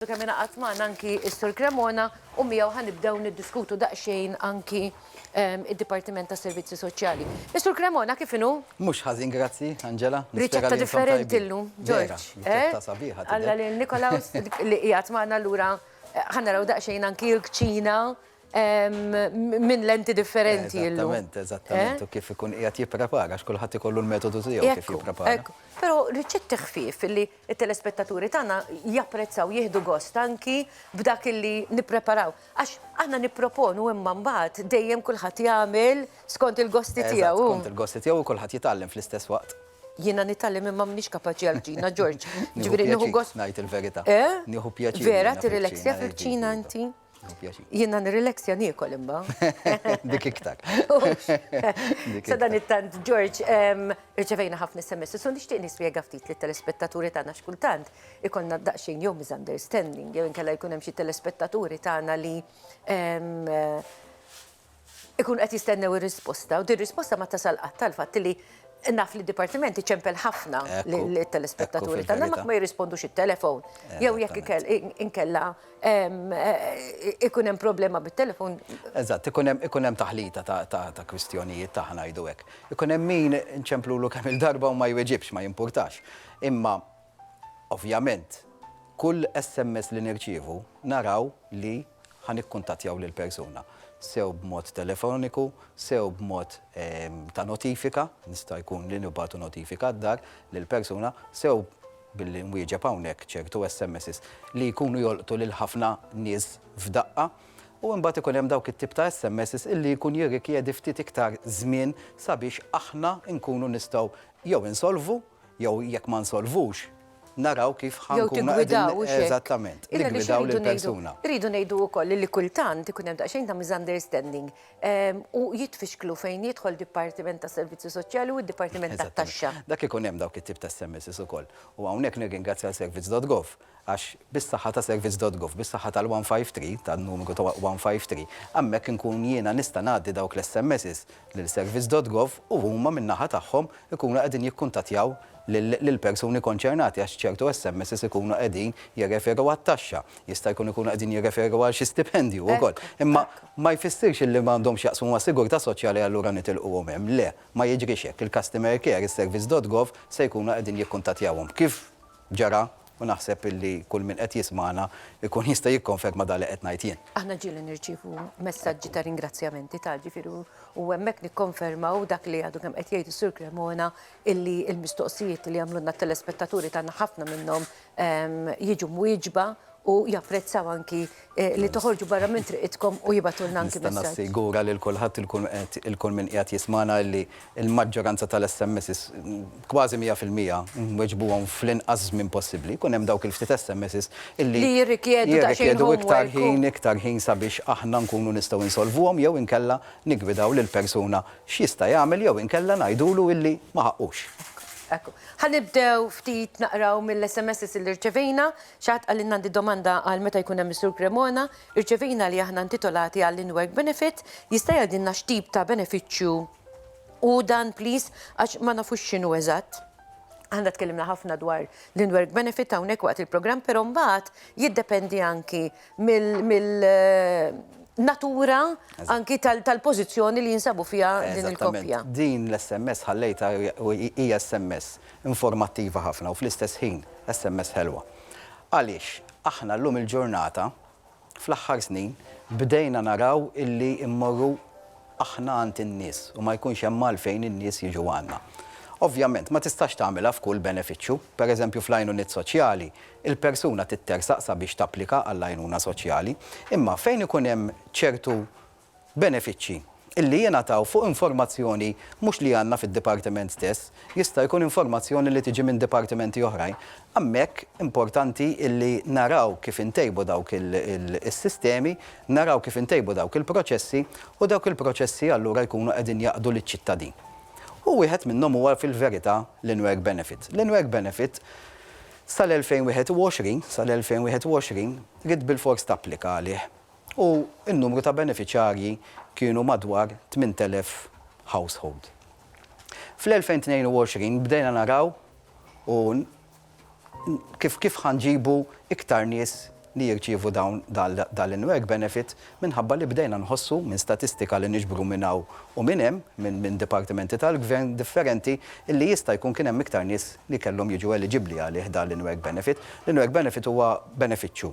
Għadu kemm ingħaqad magħna anki s-Sur Cremona u miegħu ħa nibdew niddiskutu daqsxejn anki d-Dipartiment tas-Servizzi Soċjali. Is-Sur Cremona kif inhu? Mhux ħażin grazzi, Angela. Nispera li intom tajbin. Riċetta differenti llum, George. Vera, riċetta sabiħa tidher. Alla lil Nikolaus li qiegħed magħna allura ħa naraw daqsxejn anki l-kċina minn lenti differenti llum. Eżattament, eżattament. U kif ikun qiegħed jipprepara għax kulħadd ikollu l-metodu tiegħu kif jipprepara. Ekku, ekku. Però riċetti ħfief li It-telespettaturi tagħna japprezzaw, jieħdu gost anki b'dak illi nippreparaw. Għax aħna nipproponu imma mbagħad dejjem kulħadd jagħmel skont il-gosti tiegħu. Eżatt, skont il-gosti tiegħu u kulħadd jitgħallem fl-istess waqt. Jiena nitgħallem imma m'iniex kapaċi għall-kċina, George. Jiġifieri nieħu gost. Nieħu pjaċir ngħid il-verità. Eh? Nieħu pjaċir. Vera, tirrileksja fil-kċina inti? Jiena nirrileksja niekol imma. Dik iktar. Sa dan it-tant, George, irċevejna ħafna SMS, so nixtieq nispjega ftit li telespettaturi tagħna x'kultant ikollna daqsxejn jew misunderstanding, jew inkella jkun hemm xi telespettaturi tagħna li Ikunu qed jistennew ir-risposta u din risposta ma tasal qatt għall-fatt li naf li d-Dipartiment iċempel ħafna lill-telespettaturi tagħna ma jirrispondux it-telefon. Jew jekk inkella ikun hemm problema bit-telefon. Eżatt, ikun hemm taħlita ta' kwistjonijiet ta' ħa ngħidu hekk. Ikun hemm min inċemplulu kemm-il darba u ma jweġibx, ma jimpurtax. Imma Ovvjament, kull SMS li nirċievu naraw li ħa nikkuntattjaw lill-persuna, sew b'mod telefoniku, sew b'mod ta' notifika, jista' jkun li nibagħtu notifika d-dar lill-persuna, sew billi nwieġeb hawnhekk ċertu SMSs li jkunu jolqtu lil ħafna nies f'daqqa. U imbagħad ikun hemm dawk it-tip ta' SMSs illi jkun jirrikjedi ftit iktar żmien sabiex aħna nkunu nistgħu jew insolvu, Jew jekk ma nsolvux, naraw kif ħa nkunu qegħdin. Jew tiggwidaw xi. Eżattament. Niggwidaw lill-persuna. Irridu ngħidu wkoll li kultant ikun hemm daqsxejn ta' misunderstanding u jitfixklu fejn jidħol dipartiment tas-servizzi soċjali u d-dipartiment tat-taxxa. Dak ikun hemm dawk it-tip ta' SMSs ukoll. U hawnhekk nirringrazzja lil servizz dot gov. Għax bis-saħħa ta' servizz dot gov, bis-saħħa tal-one five three, tan-numru ta' one five three, hemmhekk inkun jiena nista' ngħaddi dawk l-SMSs lil servizz dot gov u huma min-naħa tagħhom ikunu qegħdin jikkuntattjaw lill-persuni konċernati għax ċertu SMSs ikunu qegħdin jirreferu għat-taxxa, jista' jkun ikunu qegħdin jirreferu għal xi stipendju wkoll. Imma ma jfissirx illi ma għandhomx x'jaqsmu mas-sigurtà soċjali allura nitilquhom hemm. Le, ma jiġrix hekk. Il-customer care, is-servizz dot gov se jkunu qegħdin jikkuntattjawhom. Kif ġara u naħseb illi kull min qed jismagħna jkun jista' jikkonferma dak li qed ngħid jien. Aħna ġieli nirċievu messaġġi ta' ringrazzjamenti ta' ġifieri u hemmhekk nikkonfermaw dak li għadu kemm qed jgħid is-Sur Cremona illi l-mistoqsijiet li jagħmlulna t-telespettaturi tagħna ħafna minnhom jiġu mwieġba u japprezzaw anki li toħorġu barra minn triqitkom u jibgħatulna anki messaġġ. Nista' nassigura lil kulħadd il kull min qiegħed jismagħna illi l-maġġoranza tal-SMSs, kważi mija fil-mija, nweġbuhom fl-inqas żmien possibbli. Jkun hemm dawk il-ftit SMSs illi Li jirrikjedu daqsxejn homework u jirrikjedu iktar ħin, iktar ħin sabiex aħna nkunu nistgħu insolvuhom jew inkella niggwidaw lill-persuna x'jista' jagħmel jew inkella ngħidulu illi ma ħaqqux. Ekku. Ħa nibdew ftit naqraw mill-SMSs illi rċevejna Xi ħadd qalli ngħandi domanda għal meta jkun hemm is-Sur Cremona, irċevejna li aħna intitolati għall-in-work benefit, jista' jgħidilna x'tip ta' benefiċċju hu dan please għax ma nafux x'inhu eżatt. Aħna tkellimna ħafna dwar l-in-work benefit hawnhekk waqt il-programm però mbagħad jiddependi anki mill natura anki tal-pożizzjoni li jinsabu fiha din il-koppja. Eżattament. Din l-SMS ħallejtha u hija SMS Informattiva ħafna u fl-istess ħin sms ħelwa. Għaliex aħna llum il-ġurnata fl-aħħar snin bdejna naraw illi mmorru aħna għand in-nies u ma jkunx hemm għalfejn in-nies jiġu għandna. Ovvjament ma tistax tagħmilha f'kull benefiċċju. Pereżempju fl-għajnuniet soċjali, il-persuna tittersaq sabiex tapplika għall-għajnuna soċjali. Imma fejn ikun hemm ċertu Benefiċċji li jingħataw fuq informazzjoni mhux li għandna fid-dipartiment stess, jista' jkun informazzjoni li tiġi minn dipartimenti oħrajn. Hemmhekk importanti li naraw kif intejbu dawk is-sistemi, naraw kif intejbu dawk il-proċessi u dawk il-proċessi allura jkunu qegħdin jaqdu liċ-ċittadin. U wieħed minnhom huwa fil-verità l-in-work benefit. L-in-work benefit sal-2021, sal-2021, ridt bilfors tapplika għalih. u n-numru ta' benefiċjarji kienu madwar 8,000 household. Fl-2022 bdejna naraw u kif kif ħa nġibu iktar nies li jirċievu dawn dan l-in-work benefit minħabba li bdejna nħossu minn statistika li niġbru minn hawn u minn hemm minn dipartimenti tal-Gvern differenti illi jista' jkun kien hemm iktar nies li kellhom jiġu eliġibbli għalih dan l-in-work benefit. L-in-work benefit huwa benefiċċju.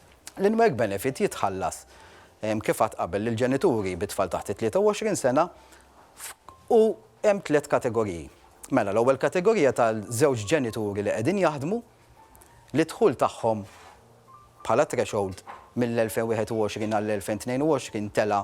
L-in-work benefit jitħallas, kif għadt qabel, lill-ġenituri bi tfal taħt it-23 sena f', u hemm tliet kategoriji. Mela, l-ewwel kategorija ta' żewġ ġenituri li qegħdin jaħdmu, li d-dħul tagħhom bħala threshold mill-2021 għall-2022 tela'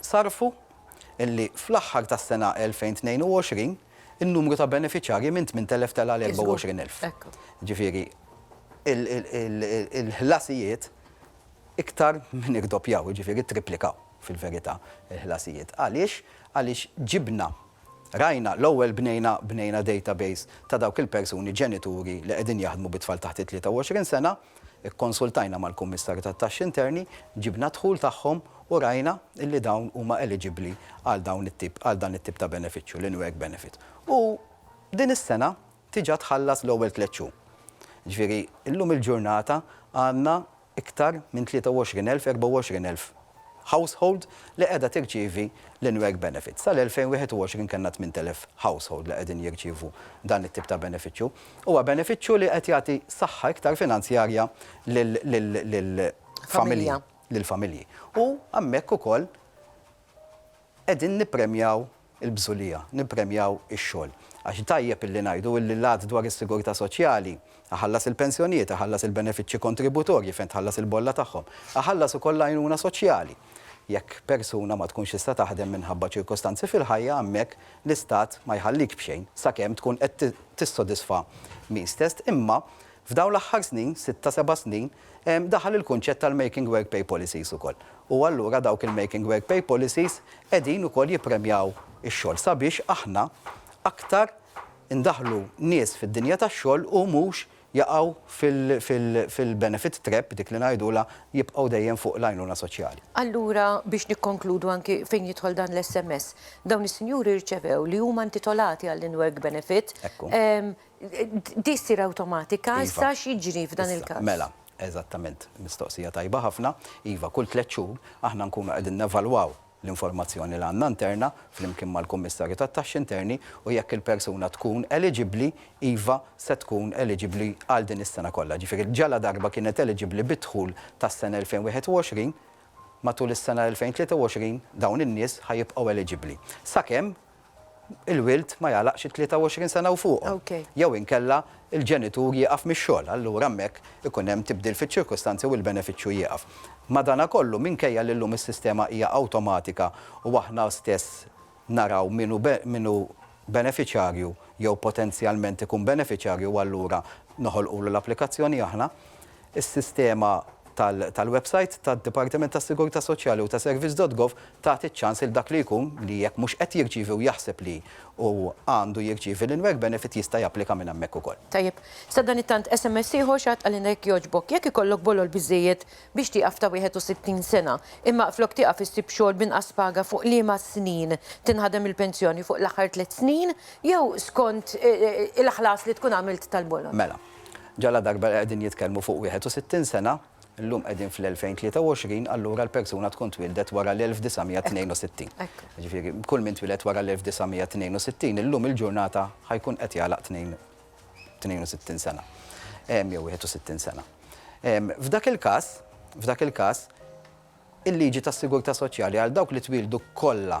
sarfu li fl-aħħar tas-sena 2022 in-numru ta' benefiċjarji minn 8,000 tela' għal 24,000. Jiġifieri l-ħlasijiet iktar minn irdoppjaw, jiġifieri ttripplikaw fil-verità l-ħlasijiet. Għaliex? Għaliex ġibna, rajna, l-ewwel bnejna, bnejna database ta' dawk il-persuni ġenituri li qegħdin jaħdmu bit-tfal taħt it-23 sena, Ikkonsultajna mal-Kummissarju tat-Taxxi Interni, ġibna d-dħul tagħhom u rajna li dawn huma eliġibbli għal dawn it-tip, għal dan it-tip ta' benefiċċju, l-in-work benefit. U din is-sena diġà tħallas l-ewwel tliet xhur. Jiġifieri llum il-ġurnata għandna iktar minn 23,000, 24,000 household li qiegħda tirċievi l-in-work benefit. Sal-2021 kellna 8,000 household li qegħdin jirċievu dan it-tip ta' benefiċċju. Huwa benefiċċju li qed jagħti saħħa iktar finanzjarja lill-familji. Familja. Lill-familji. U hemmhekk ukoll Qegħdin nippremjaw il-bżulija, nippremjaw ix-xogħol. Għax tajjeb illi ngħidu illi l-Att dwar is-Sigurtà Soċjali, iħallas il-pensjonijiet, iħallas il-benefiċċji kontributorji fejn tħallas il-bolla tagħhom, iħallas ukoll l-għajnuna soċjali. Jekk persuna ma tkunx tista' taħdem minħabba ċirkostanzi fil-ħajja hemmhekk l-Istat ma jħallik b'xejn sakemm tkun qed tissodisfa min stess imma F'dawn l-aħħar snin, sitta seba' snin, daħal il-kunċett tal-Making Work Pay Policies ukoll. U allura dawk il-Making Work Pay Policies qegħdin ukoll jippremjaw ix-xogħol sabiex aħna aktar indaħħlu nies fid-dinja tax-xogħol u mhux jaqgħu fil-benefit trap, dik li ngħidulha jibqgħu dejjem fuq l-għajnuna soċjali. Allura biex nikkonkludu anki fejn jidħol dan l-SMS, dawn is-sinjuri rċevew li huma intitolati għall-in-work benefit, Di ssir awtomatika issa x'jiġri f'dan il-każ? Mela, eżattament, mistoqsija tajba ħafna. Iva, kull tliet xhur aħna nkunu qegħdin nevalwaw l-informazzjoni li għandna interna flimkien mal-Kummissarju tat-Taxxi Interni u jekk il-persuna tkun eliġibbli, iva, se tkun eliġibbli għal din is-sena kollha. Jiġifieri ġaladarba kienet eliġibbli bid-dħul tas-sena 2021, matul is-sena 2023 dawn in-nies ħa jibqgħu eliġibbli. Sakemm il-wild ma jagħlaqx it-23 sena u fuqhom. Jew inkella l-ġenitur jieqaf mix-xogħol, allura hemmhekk ikun hemm tibdil fiċ-ċirkustanzi u l-benefiċċju jieqaf. Madanakollu, minkejja li llum is-sistema hija awtomatika u aħna stess naraw min hu min hu benefiċjarju jew potenzjalment ikun benefiċjarju u allura noħolqulu l-applikazzjoni aħna, Is-sistema tal-websajt tad-Dipartiment tas-Sigurtà Soċjali u ta' Service dot Gov tagħti ċ-ċans lil dak li jkun li jekk mhux qed jirċievi u jaħseb li hu għandu jirċievi l-in-work benefit jista' japplika minn hemmhekk ukoll. Tajjeb. Sadanittant SMS ieħor xi ħadd qalilna jekk jogħġbok, jekk ikollok bolol biżżejjed biex tieqaf ta' 61 sena, imma flok tieqaf issib xogħol b'inqas paga fuq liema snin tinħadem il-pensjoni, fuq l-aħħar tliet snin jew skont il-ħlas li tkun għamilt tal-bolol? Mela. Ġaladarba qegħdin jitkellmu fuq 61 sena, illum qegħdin fl-2023, allura l-persuna tkun twieldet wara l-1962. Jiġifieri kull min twieled wara l-1962 illum il-ġurnata ħa jkun qed jagħlaq 62 sena jew 61 sena. F'dak il-każ, f'dak il-każ, il-liġi tas-sigurtà soċjali għal dawk li twieldu kollha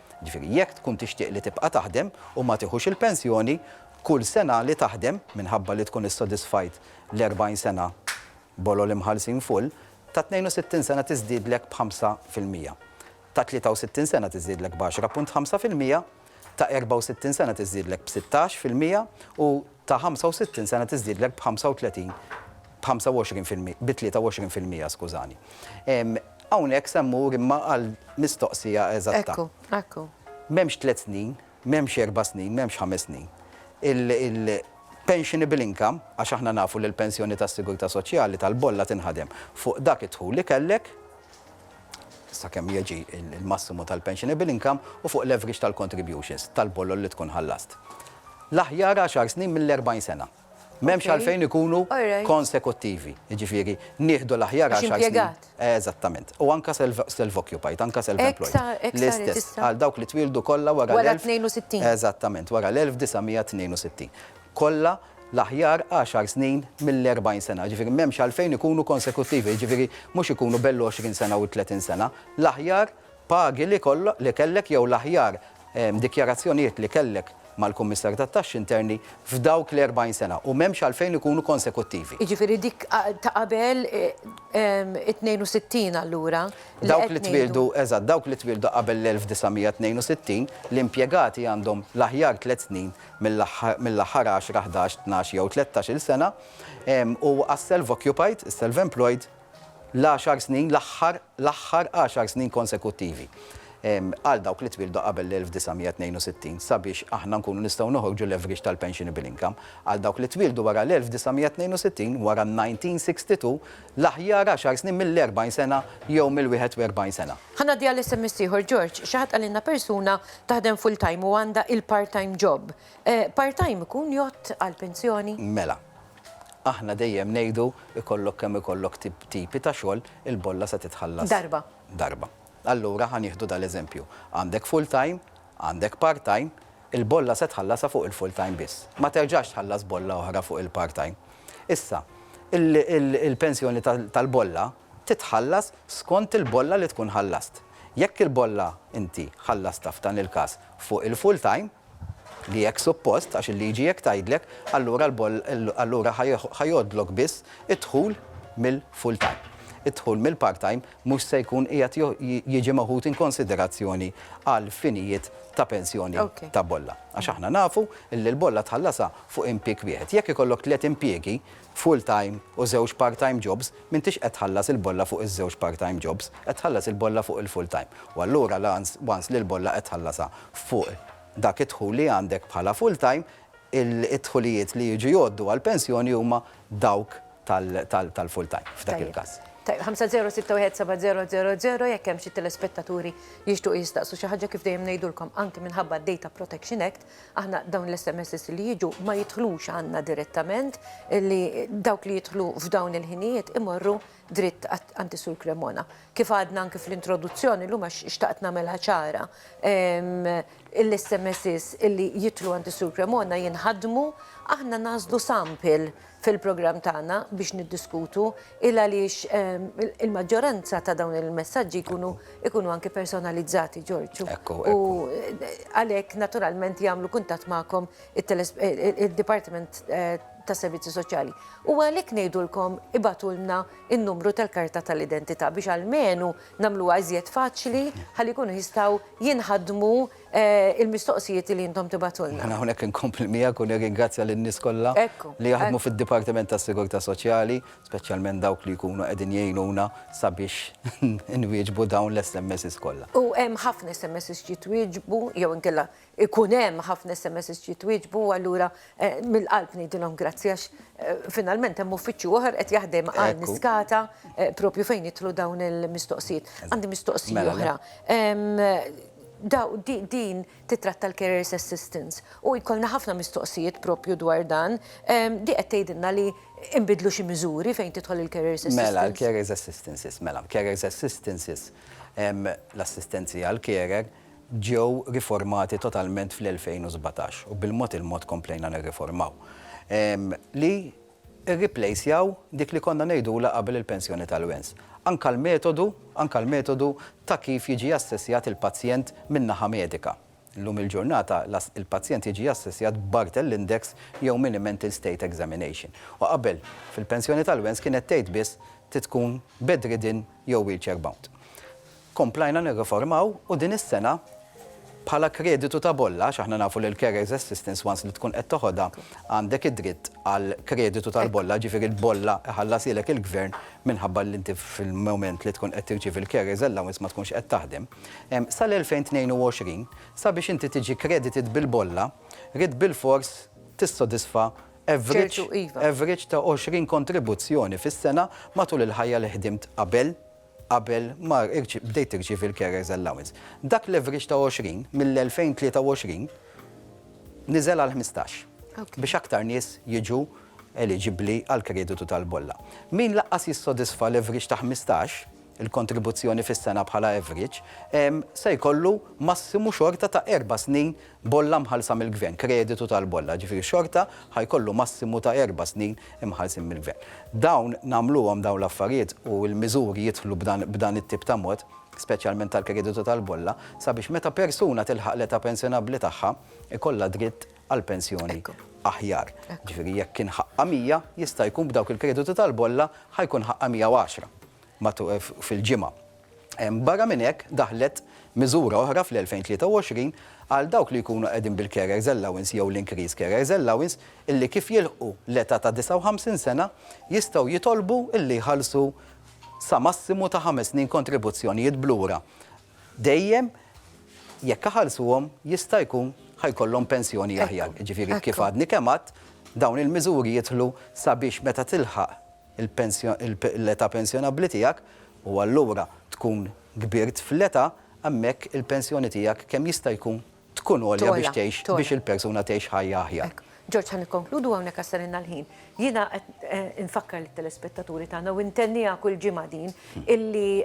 Jiġifieri jekk tkun tixtieq li tibqa' taħdem u ma tieħux il-pensjoni, kull sena li taħdem, minħabba li tkun issodisfajt l-40 sena bolol imħallsin full, ta' 62 sena tiżdiedlek b'ħamsa fil-mija, ta' 63 sena tiżdiedlek b'għaxra punt ħamsa fil-mija, ta' 64 sena tiżdiedlek b'sittax fil-mija u, ta' 65 sena tiżdiedlek b'ħamsa u tletin, b'ħamsa u għoxrin fil-mi, bi tlieta u għoxrin fil-mija, skużani. Hawnhekk se mmur imma għal mistoqsija eżatta. Ekku, ekku. M'hemmx tliet snin, m'hemmx erba' snin, m'hemmx ħames snin. Il-pensionable income, għax aħna nafu li l-pensjoni tas-sigurtà soċjali tal-bolla tinħadem fuq dak id-dħul li kellek, sakemm jiġi l-massimu tal-pensionable income u fuq l-average tal-contributions tal-bolol li tkun ħallast. L-aħjar għaxar snin mill-40 sena. M'hemmx għalfejn ikunu konsekuttivi. Jiġifieri, nieħdu l-aħjar għaxar snin. Għax impjegat. Eżattament. U anke self-occupied, anke self-employed. Hekk sa, hekk saret issa. Għal dawk li twieldu kollha wara l-. Wara t-62. Eżattament, wara l-1962. kollha l-aħjar għaxar snin mill-erbgħin sena, jiġifieri m'hemmx għalfejn ikunu konsekuttivi, jiġifieri mhux ikunu bell-għoxrin sena u t-tletin sena, l-aħjar pagi li kellek jew l-aħjar dikjarazzjonijiet li kellek mal-Kummissarju tat-Taxxi Interni f'dawk l-erbgħin sena, u m'hemmx għalfejn ikunu konsekuttivi. Jiġifieri dik ta' qabel it-tnejn u sittin allura li qed ngħidu. Dawk li twieldu, eżatt, dawk li twieldu qabel l-elf u disgħa mija u tnejn u sittin, l-impjegati għandhom l-aħjar tliet snin mill-aħħar għaxra, ħdax, tnax jew tlettax-il sena, u għas-self-occupied, is-self-employed, l-għaxar snin, l-aħħar, l-aħħar għaxar snin konsekuttivi, għal dawk li twieldu qabel l-1962, sabiex aħna nkunu nistgħu noħorġu l-average tal-pensionable income għal dawk li twieldu wara l-1962, wara n-1962, l-aħjar għaxar snin mill-40 sena jew mill-41 sena. Ħa ngħaddi għal SMS ieħor, George, xi ħadd qalilna persuna taħdem full time u għandha il-part time job. Part time ikun jgħodd għall-pensjoni? Mela. Aħna dejjem ngħidu ikollok kemm ikollok tipi ta' xogħol, il-bolla se titħallas. Darba. Darba. Allura ħa nieħdu dal-eżempju. Għandek full time, għandek part time, il-bolla se tħallasha fuq il-full time biss. Ma terġax tħallas bolla oħra fuq il-part time. Issa, il-pensjoni tal-bolla, titħallas skont il-bolla li tkun ħallast. Jekk il-bolla inti ħallastha f'dan il-każ fuq il-full time, li hekk suppost għax il-liġi hekk tgħidlek, allura allura ħa jgħoddlok biss id-dħul mill-full time. Id-dħul mill-part time mhux se jkun qiegħed jiġi meħud in konsiderazzjoni għal finijiet ta' pensjoni ta' bolla. Għax aħna nafu li l-bolla tħallasha fuq impieg wieħed. Jekk ikollok tliet impjiegi, full time u żewġ part time jobs, m'intix qed tħallas il-bolla fuq iż-żewġ part time jobs, qed tħallas il-bolla fuq il-full time. U allura l-ans once li l-bolla qed tħallasha fuq dak id-dħul li għandek bħala full time, id-dħulijiet li jiġu jgħoddu għall-pensjoni huma dawk tal-full time f'dak il-każ. Tajjeb, 50617000 jekk hemm xi telespettaturi jixtiequ jistaqsu xi ħaġa kif dejjem ngħidulkom anki minħabba d-Data Protection Act Aħna dawn l-SMSs li jiġu ma jidħlux għandna direttament, li dawk li jidħlu f'dawn il-ħinijiet imorru dritt għand is-Sur Cremona. Kif għadna anki fl-introduzzjoni llum għax xtaqt nagħmilha ċara, l-SMSs li jidħlu għand is-Sur Cremona jinħadmu, aħna nagħżlu sample fil-programm tagħna biex niddiskutu il-għaliex il-maġġoranza ta' dawn il-messaġġi jkunu jkunu anke personalizzati, Ġorġ. Ekku, ekku. U għalhekk naturalment jagħmlu kuntatt magħkom id-Dipartiment tas-Servizzi Soċjali. U għalhekk ngħidulkom ibagħtulna n-numru tal-karta tal-identità biex almenu nagħmluha iżjed faċli ħalli jkunu jistgħu jinħadmu il-mistoqsijiet li intom tibgħatulna. Mela hawnhekk inkompli miegħek u nirringrazzja lin-nies kollha li jaħdmu fid-Dipartiment tas-Sigurtà Soċjali, speċjalment dawk li jkunu qegħdin jgħinuna sabiex inwieġbu dawn l-SMSs kollha. U hemm ħafna SMSs jitwieġbu jew inkella jkun hemm ħafna SMSs jitwieġbu u allura mill-qalb ngħidilhom grazzi għax finalment hemm uffiċċju oħor qed jaħdem għal Niskata proprju fejn jidħlu dawn il-mistoqsijiet. Għandi mistoqsija oħra. Din tittratta l-carers assistance u jkollna ħafna mistoqsijiet proprju dwar dan. Din qed tgħidilna li nbiddlu xi miżuri fejn tidħol il-carers assistance? Mela, l-carers assistances, mela, carers assistances, l-assistenzi għall-carer, ġew riformati totalment fl-2017 u bil-mod il-mod komplejna nirriformaw. Li irriplejsjaw dik li konna ngħidulha qabel il-pensjoni tal-wens. Anke l-metodu, anke l-metodu ta' kif jiġi assessjat il-pazjent min-naħa medika. Illum il-ġurnata il-pazjent jiġi assessjat b'Barthel Index jew Mini-Mental State Examination. U qabel, fil-pensjoni tal-wens kienet tgħid biss trid tkun bedridden jew wheelchair-bound. Komplajna nirriformaw u din is-sena bħala kreditu ta' bolla, għax aħna nafu li l-carers assistance once li tkun qed toħodha għandek id-dritt għal kreditu tal-bolla, ġifieri l-bolla iħallashielek il-Gvern minħabba li inti fil-mument li tkun qed tirċievi l-carers allowance ma tkunx qed taħdem. Sal-2022 sabiex inti tiġi credited bil-bolla ridt bilfors tissodisfa average average ta' 20 kontribuzzjoni fis-sena matul il-ħajja li ħdimt qabel qabel ma bdejt tirċievi l-carers allowance. Dak l-average ta' 20 mill-2023 niżel għal ħmistax biex aktar nies jiġu eliġibbli għall-kreditu tal-bolla. Min lanqas jissodisfa l-average ta' ħmistax, il-kontribuzzjoni fis-sena bħala average, se jkollu massimu xorta ta' erba' snin Bolla mħallsa mill-Gvern, kreditu tal-bolla, jiġifieri xorta ħa jkollu massimu ta' erba' snin imħallsin mill-Gvern. Dawn nagħmluhom dawn l-affarijiet u l-miżuri jidħlu b'dan b'dan it-tip ta' mod, speċjalment tal-kreditu tal-bolla, sabiex meta persuna tilħaq l-età pensjonabbli tagħha, ikollha dritt għal pensjoni aħjar. Jiġifieri jekk kien ħaqqha 100, jista' jkun b'dawk il-kreditu tal-bolla ħa jkun ħaqqha 110 matul fil-ġimgħa. Barra minn hekk, daħlet miżura oħra fl-2023 għal dawk li jkunu qegħdin bil-carers allowance jew l-increased carers allowance illi kif jilħqu l-età ta' 59 sena jistgħu jitolbu illi jħallsu sa massimu ta' ħames snin kontribuzzjonijiet b'lura dejjem jekk iħallsuhom jista' jkun ħa jkollhom pensjoni aħjar. Jiġifieri kif għadni kemm għedt, dawn il-miżuri jidħlu sabiex meta tilħaq l-età pensjonabbli tiegħek u allura tkun kbirt fl-età, hemmhekk il-pensjoni tiegħek kemm jista' jkun tkun għolja biex tgħix biex il-persuna tgħix ħajja aħjar. George, ħa nikkonkludu hawnhekk għax salilna l-ħin. Jiena qed infakkar lit-telespettaturi tagħna u intenniha kull ġimgħa din illi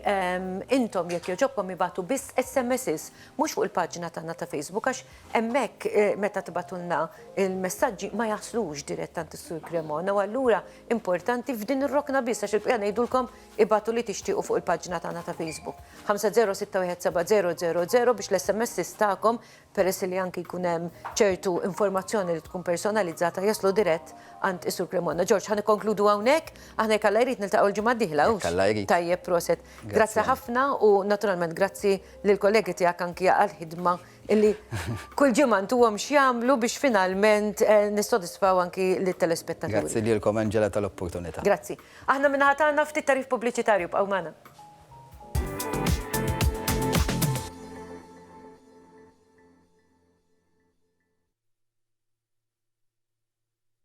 intom jekk jogħġobkom ibagħtu biss SMSs, mhux fuq il-paġna tagħna ta' Facebook għax hemmhekk meta tibagħtulna l-messaġġi ma jaslux dirett għand is-Sur Cremona u allura importanti f'din ir-rokna biss għax il-bqija ngħidulkom ibgħatu li tixtiequ fuq il-paġna tagħna ta' Facebook. 50617000 biex l-SMSs tagħkom, peress li anki jkun hemm ċertu informazzjoni li tkun personalizzata, jaslu dirett għand is-Sur Cremona. George, ħa nikkonkludu hawnhekk, aħna jekk Alla jrid niltaqgħu l-ġimgħa d-dieħla, hux? Jekk Alla jrid. Tajjeb, proset. Grazzi ħafna u naturalment grazzi lill-kollegi tiegħek anki għall-ħidma illi kull ġimgħa ntuhom x'jagħmlu biex finalment nissodisfaw anki lit-telespettaturi. Grazzi lilkom Angela tal-opportunità. Grazzi. Aħna min-naħa tagħna ftit tagħrif pubbliċitarju bqgħu magħna.